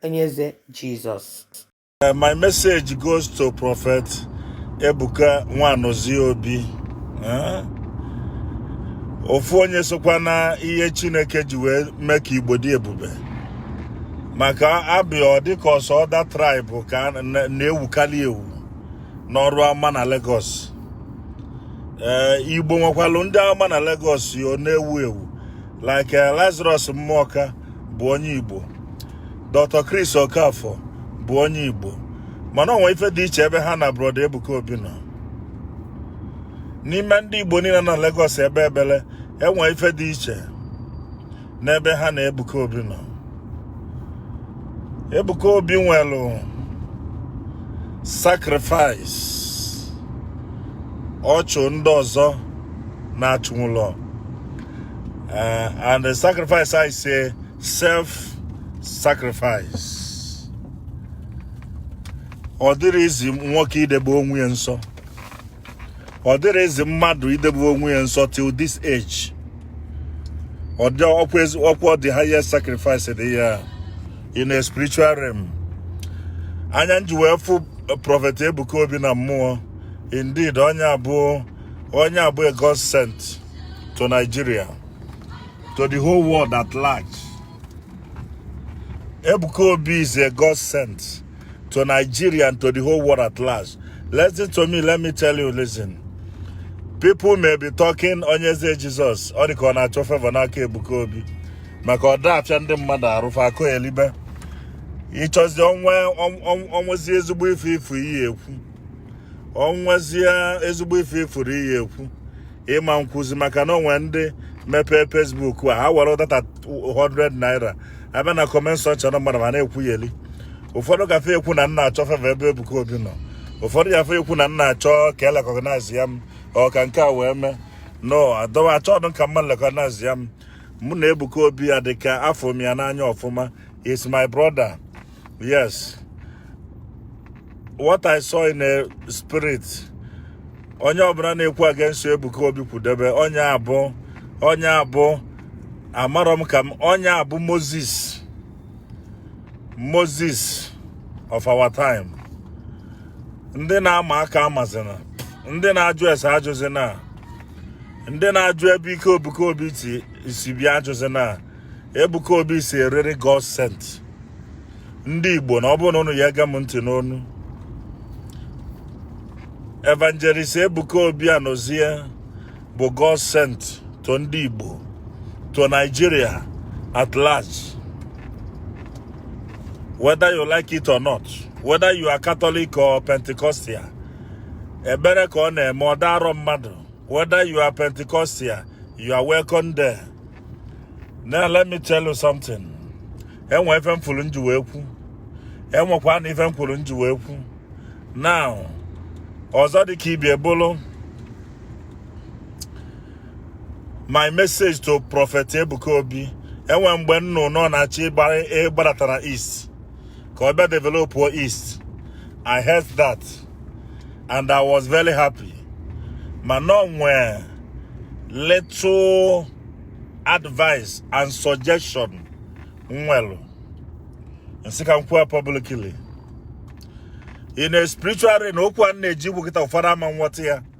Onyeze Jesus. Uh, my message goes to Prophet Ebuka Nwanozie Obi. Eh? Ofu onye sokwa na ihe Chineke ji wee mee ka Igbo dị ebube. Maka a bịa ọ dị ka ọ sọ other tribe ka na-ewukalị ewu n'ọrụ ama na Lagos. Eh, Igbo nwekwalụ ndị a ma na Lagos ọ na-ewu ewu. like eh, Lazarus Muoka bụ onye Igbo Dr. Chris Okafor bụ onye Igbo mana o nwe ife dị iche ebe ha na broda Ebuka Obi nọ n'ime ndị Igbo niile nọ Lagos ekpe ekpele e nwe ife dị iche n'ebe ha na Ebuka Obi nọ Ebuka Obi nwelụ sacrifice ọ chụ ndị ọzọ na-achụnwụlọ Uh, and the sacrifice I say self sacrifice. Ọ dịrọ easy nwoke idebe onwe ya nsọ. Ọ dịrọ easy mmadụ idebe onwe ya nsọ till this age. Ọ dị ọkwa the highest sacrifice dị ya in a spiritual realm. Anya m ji wee fụ uh, Prophet Ebuka Obi na mmụọ. Indeed, onye a bụ onye a bụ a God sent. to Nigeria to the whole world at large Ebuka Obi is a God sent to Nigeria and to the whole world at large listen to me let me tell you listen people may be talking Onyeze Jesus ọ dị ka ọ na-achọ favor n'aka Ebuka Obi maka ọ da afịa ndị mmadụ arụ fa akọyelibe ị chọzi o nwe o nwezi ezigbo ife ị fụ ị ya-ekwu o nwezie ezigbo ife ị fụrụ ị ya-ekwu ị ma nkwuzi maka na o nwe ndị mepee Facebook a ha were data 100 naira abịa na comment section mmadụ ma na-ekwuyeli ụfọdụ gafe ekwu na m na-achọ favor ebe Ebuka Obi nọ ụfọdụ gafe ekwu na m na-achọ ka e recognize ya m ọka nke a wee mee no adọ m achọdụ ka mmadụ recognize ya m mụ na Ebuka Obi ya dị ka afụ m ya n'anya ọfụma he's my brother yes what i saw in a spirit onye ọbụla na-ekwu against ebuka obi kwudebe onye a bụ onye a bụ amarọ m ka m onye a bụ moses moses of our time ndị na-ama aka amazina ndị na-ajụ ese ajụzina ndị na-ajụ ebe ike ebuka obi ti si bịa ajụzina Ebuka Obi is a really God sent ndị Igbo na ọ bụrụ na unu ya ege m ntị n'ọnụ Evangelist Ebuka Obi Anozie bụ God sent to ndị Igbo to Nigeria at large whether you like it or not whether you are Catholic or Pentecostal ebere ka ọ na-eme ọ da arọ mmadụ whether you are Pentecostal you are welcome there. Now let me tell you something. Enwe ife m fụrụ m ji wee kwu. Enwekwa na ife m fụrụ m ji wee kwu. Now, ọzọ dị ka ibe ya bụrụ my message to Prophet Ebuka Obi. Enwe mgbe m nụ na ọ na-achọ ịgbadata na East. ka ọ bịa develop east i heard that and i was very happy mana o nwee little advice and suggestion m nwere m sị ka m kwuo publicly in a spiritual realm okwu a m na-eje ikwu kịta ụfọdụ ama nghọta ya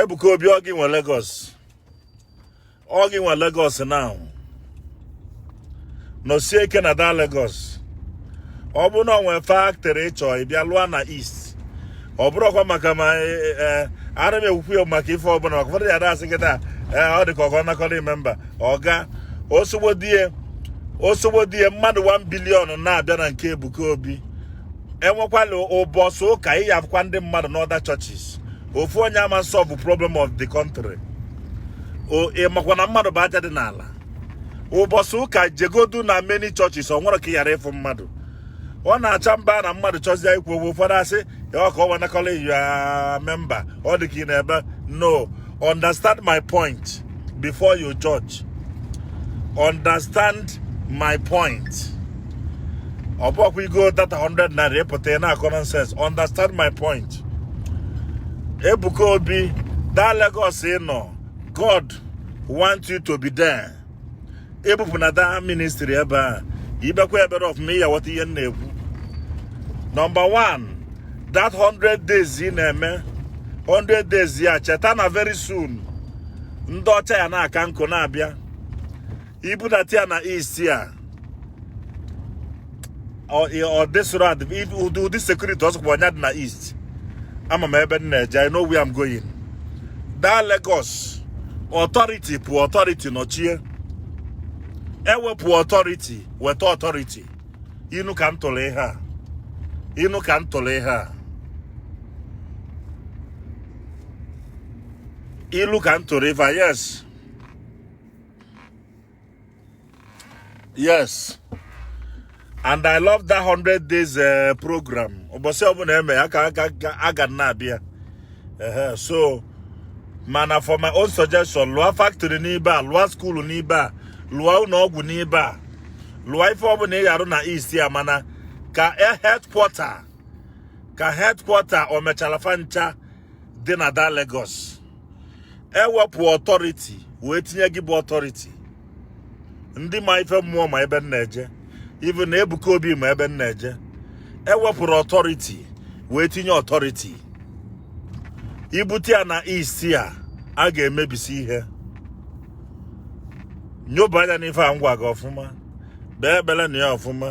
Ebuka Obi ọ gị nwe Lagos ọ gị nwe Lagos now nọsie ike na that Lagos ọ bụ na o nwee factory ị chọ ịbịa lụọ na East ọ bụrụkwa maka ma e, e, e, ara m ekwukwu ya maka ife ọbụla maka ụfọdụ ya dasị kịta ọ dị ka ọgọ nakọrọ member ọga osogbodie osogbodie mmadụ 1 billion na-abịa na nke Ebuka Obi enwekwala ụbọchị ụka ị ya-afụkwa ndị mmadụ n'other churches ofu onye ama solve problem of the country ị makwa na mmadụ bụ aja dị n'ala ụbọchị ụka jegodu na many churches o nwere ka ị ghara ịfụ mmadụ ọ na-acha mba na mmadụ chọzie ikwu okwu ụfọdụ asị ya ọka ọ wanakọla ya member ọ dị ka ị na-ebe no Understand my point before you judge. Understand my point. ọ bụkwa igo data 100 naira ịpụta ị na-akọ nonsense understand my point Ebuka Obi that Lagos ị nọ God want you to be there ịbụpụ na that ministry ebe a ibekwa ebere ọfụma ị ya-aghọta ihe m na-ekwu number 1 that 100 days ị na-eme 100 days ị ya-echeta na very soon ndị ọcha ya na-aka nkụ na-abịa i budata ya na east a all this road ụdị security ọzọkwa ọnya dị na east ama m ebe m na-eje I know where I'm going that Lagos authority pụ authority nọchie e wepụ authority weta authority inu ka m tụrụ ihe a inu ka m tụrụ ihe a ilu ka m tụrụ ife a yes yes and i love that 100 days uh, program ụbọsị ọbụna e me ya ka a ga na-abịa so mana for my own suggestion lụọ factory n'ibe a lụọ school n'ibe a lụọ ụlọ ọgwụ n'ibe a lụọ ife ọbụna ị ya-arụ na east ya mana ka e headquarter ka headquarter Omechara fancha dị na da Lagos e wepụ authority wee tinye gị bụ authority ndị ma ife mmụọ ma ebe m na-eje even na Ebuka Obi ma ebe m na-eje e wepụrụ authority wee tinye authority i bute ya na East a a ga-emebisi ihe nyoba anya n'ife a m gwa gị ọfụma kpee ekpele na ya ọfụma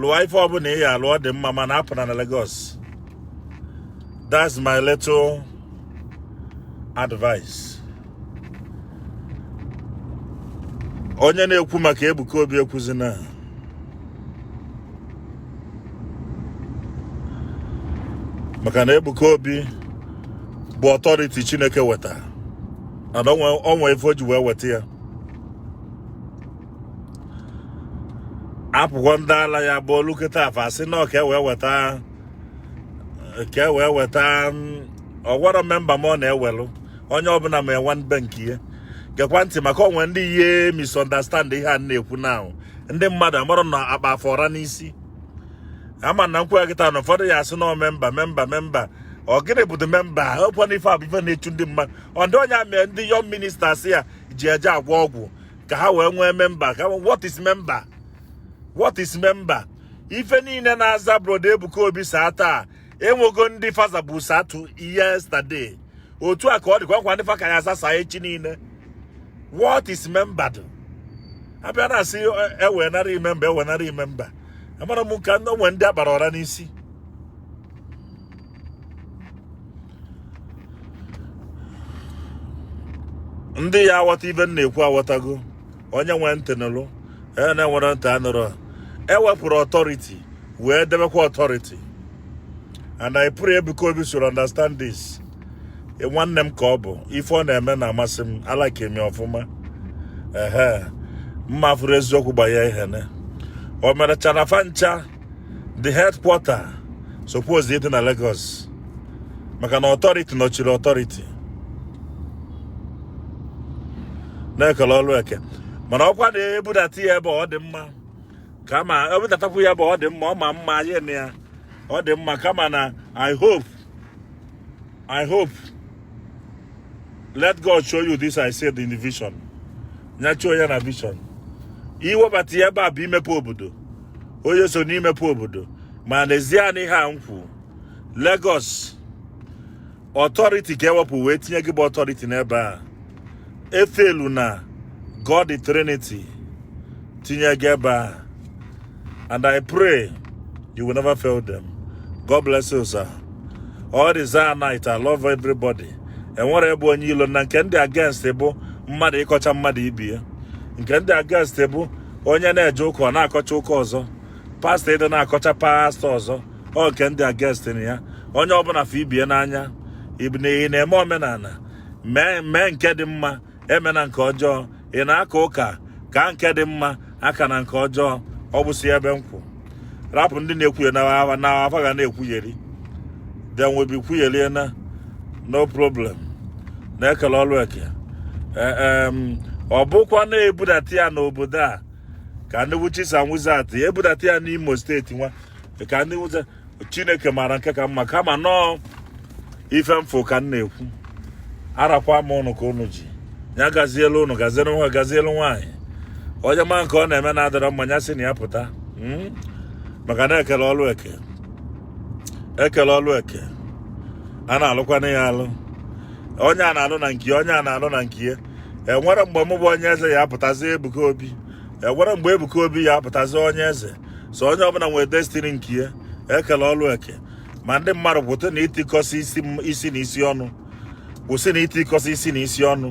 lụọ ife ọbụna ị ya-alụ ọ dị mma mana apụna Lagos that's my little advice onye na-ekwu maka Ebuka Obi ekwuzina maka na Ebuka Obi bụ authority Chineke weta and o nwe ife o ji wee weta ya apụkwa ndị ala ya bụ olu kịta fa asị na ka e wee weta ka e wee weta ọgwara member m ọ na-ewelụ onye ọbụna ma enwe member nke ya gekwa ntị maka o nwe ndị ya misunderstand ihe a na-ekwu now ndị mmadụ amarọ na a kpa fa ọra n'isi ama na m kwue kịta na ụfọdụ ya-asị na member member member ọ gịnị bụ the member ọ kwa na ife a bụ ife na-echu ndị mmadụ ọ ndị young mi ndị young ministers a ji eje agwọ ọgwụ ka ha wee nwee member ka what is member what is member ife niile na-aza brother Ebuka Obi sir taa e nwego ndị fa zabu sir too yesterday otu a ka ọ dịkwa nwekwa ndị fa ka ya-aza sir echi niile what is member do abịa na-asị e wenara m member e wenara m member amara m ka o nwe ndị a kpara ọra n'isi ndị ya-aghọta ife m na-ekwu aghọtago onye nwee ntị nụrụ onye na-enwerọ ntị anụrọ e wepụrụ authority wee debekwa authority and I pray Ebuka Obi should understand this e, nwanne m ka ọ bụ ife ọ na-eme na-amasị m alike m ya ọfụma ehe m ma fụrụ eziokwu gbanye ihe ne Omechara fancha the headquarter suppose ịdị na Lagos maka na authority nọchiri authority na e kele ọrụ eke mana ọ kwa na e budata ya ebe ọ dị mma kama e budatakwu ya ebe ọ dị mma ọ ma mma anyị na ya ọ dị mma kama na i hope I hope let God show you this I said in the vision nyachuo ya na vision iwebata ya ebe a bụ imepe obodo onye so n'imepe obodo ma n'ezie na ihe a m kwu Lagos authority ka e wepụ wee tinye gị bụ authority n'ebe a efelu na God the Trinity tinye gị ebe a and I pray you will never fail them. God bless you, sir. All this night, I love everybody. enwere ebe onye ilo na nke m dị against bụ mmadụ ịkọcha mmadụ ibe ya nke m dị against bụ onye na-eje ụka ọ na-akọcha ụka ọzọ pastor ịdị na-akọcha pastor ọzọ ọ nke m dị against na ya onye ọbụla fụ ibe ya n'anya ibụ na na-eme omenala mee nke dị mma emena nke ọjọọ ị na-aka ụka kaa nke dị mma akana nke ọjọọ ọ bụsị ebe m kwụ rapụ ndị na-ekwuyeri na fa ga na-ekwugheri they will be kwuyerie na no problem na ekele ọlụ eke e, ọ bụkwa na ebudata ya n'obodo a ka ndị witches and wizards ebudata ya n'Imo State nwa ka ndị chineke maara nke ka mma kama na ọ ife m fụ ka m na-ekwu arakwa m ụnụ ka ụnụ ji ya gazielu ụnụ gazielu nwa gazielu nwaanyị onye ma nke ọ na-eme na adịrọ mma ya si na ya pụta hmm? maka na ekele ọlụ eke ekele ọlụ eke a na-alụkwana ya alụ onye a na-alụ na nke onye a na-alụ na nke ya enwerọ mgbe mụ bụ onye eze ya apụtazi Ebuka Obi enwerọ mgbe Ebuka Obi ya apụtazi onye eze so onye ọbụla nwere destiny nke ya ekele ọlụ eke ma ndị mmadụ kwụsị na itikọsị isi na isi ọnụ kwụsị na itikọsị isi na isi ọnụ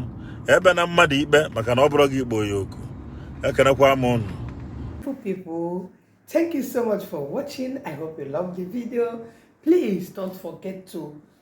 ekpena mmadụ ikpe maka na ọ bụrọ gị kpọ ya oku ekelekwa m unu Thank you so much for watching. I hope you loved the video. Please don't forget to